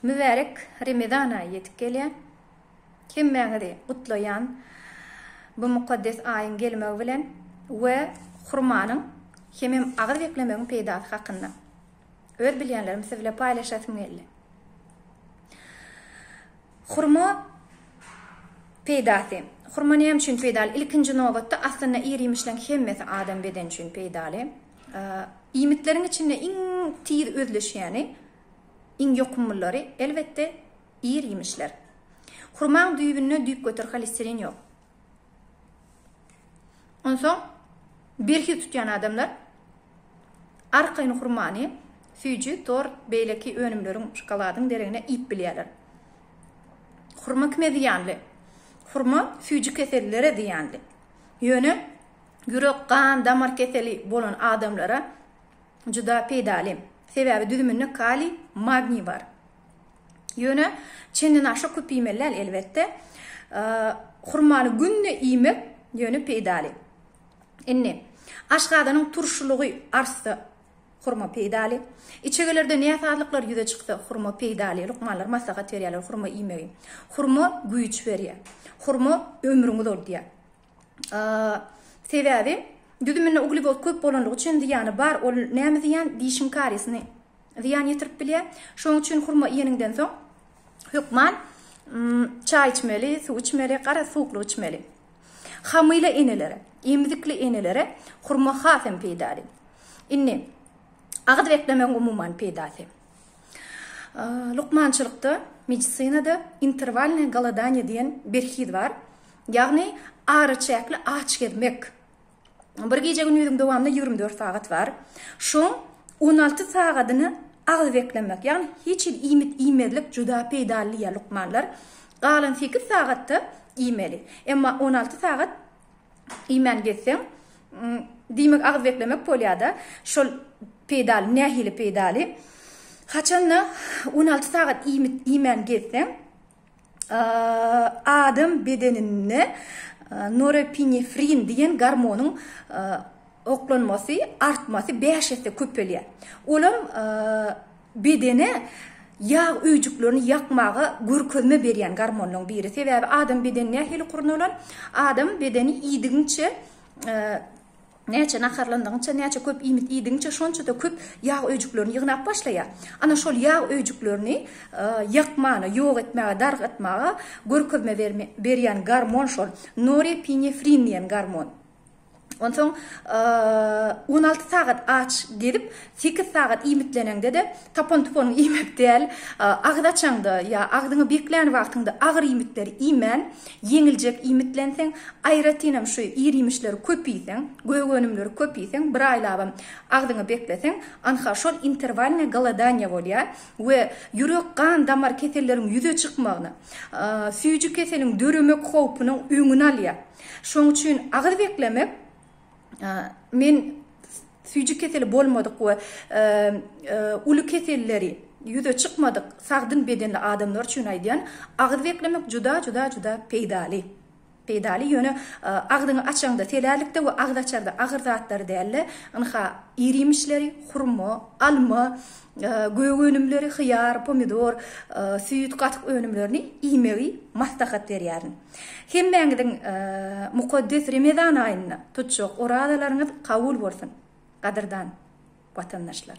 Mübärek Remezan aýy ýetip gelýär. Hemmäňizi gutlaýan bu mukaddes aýyň gelmegi bilen we hurmanyň hemem agyz beklemegiň peýdasy hakynda öz bilýänlerimi siz bilen paýlaşasym geldi. Hurma peýdasy. Hurma näme üçin peýdaly? Ilkinji nobatda aslynda ir-iýmişleriň hemmesi adam bedeni üçin peýdaly. Iýmitleriň içinde iň tiz özleşýäni, iň ýokumlylary, elbetde, ir-iýmişler. Hurmaň düýbünde düýpgöter holesterin ýok. Onsoň berhiz tutýan adamlar arkaýyn hurmany, süýji, tort, beýleki önümleriň, şokoladyň deregine iýip bilýärler. Hurma kime zyýanly? Hurma süýji kesellilere zyýanly. Ýöne. Ýürek, gan, damar keseli bolan adamlara juda peýdaly. Sebäbi düzüminde kaliý, magniý bar. Ýöne çendenaşa köp iýmeli däl elbetde. Hurmany günde iýmek ýöne peýdaly. Indi aşgazanyň turşulygy artsa hurma peýdaly. Içegelerde näsazlyklar ýüze çyksa hurma peýdaly. Lukmanlar maslahat berýärler hurma iýmegi. Hurma güýç berýär. Hurma ömrüňi uzaldýar. Sebäbi düzüminde uglewod köp bolanlygy üçin zyýany bar. Ol näme zyýan? Dişiň kariýesini zyýan ýetirip bilýär. Şonuň üçin hurma iýeniňden soň hökman çaý içmeli, suw içmeli, garaz suwuklyk içmeli. Hamyla enelere, emzikli enelere hurma has hem peýdaly. Indi agyz beklemegiň umuman peýdasy. Lukmançylykda, medisinada interwalnyý goladaniýa diýen berhiz bar. Ýagny araçäkli aç gezmek. Bir gije-gündiziň dowamynda ýigrimi dört sagat bar. Şoň on alty sagadyny agyz beklemek, ýagny hiç hili iýmit iýmezlik juda peýdaly diýýär lukmanlar. Galan sekiz sagatda iýmeli. Emma on alty sagat iýmän gezseň, diýmek agyz beklemek bolýar-da. Şol peýdaly, nähili peýdaly? Haçanda on alty sagat iýmit iýmän gezseň, adam bedeninde norepinefrin diýen gormonyň oklanmasy, artmasy bäş esse köpelýär. Olam Bedene ýag öýjüklerini ýakmaga görkezme berýän gormonlaryň biri. Sebäbi adam bedeni nähili gurnalan? Adam bedeni iýdigiňçe, näçe naharlandygyňça, näçe köp iýmit iýdigiňçe şonça-da köp ýag öýjüklerini ýygnap başlaýar. Ana şol ýag öýjüklerini ýakmana, ýok etmäge, dargatmaga görkezme berýän gormon şol norepinefrin diýen gormon. Onsoň on alty sagat aç gezip, sekiz sagat iýmitleneňde-de, tapan-tupanyň iýmek däl, agyz açaňda ýa agzyňy beklän wagtyňda agyr iýmitleri iýmän, ýeňiljek iýmitlenseň, aýratynam şu ir-iýmişleri köp iýseň, gök önümleri köp iýseň, bir aýlabam agzyňy bekleseň, anha şol interwalnyý golodaniýa bolýar we ýürek-gan-damar keselleriň ýüze çykmagyna, süýji keseliň döremek howpunyň öňüni alýar. Şoň üçin agyz beklemek men süýji keseli bolmadyk we uly keselleri ýüze çykmadyk sagdyn bedenli adamlar üçin aýdýan, agyz beklemek juda juda juda peýdaly. Peýdaly ýöne agzyňy açaňda selärlikde we agyz açarda agyr zatlary däl-de, ynha iriýmişleri, hurma, alma, gök önümleri, hyýar, pomidor, süýt, gatyk önümlerini iýmegi maslahat berýärin. Hemmäňiziň mukaddes Remezan aýynda tutjak orazalaryňyz kabul bolsun, gadyrdan Watandaşlar!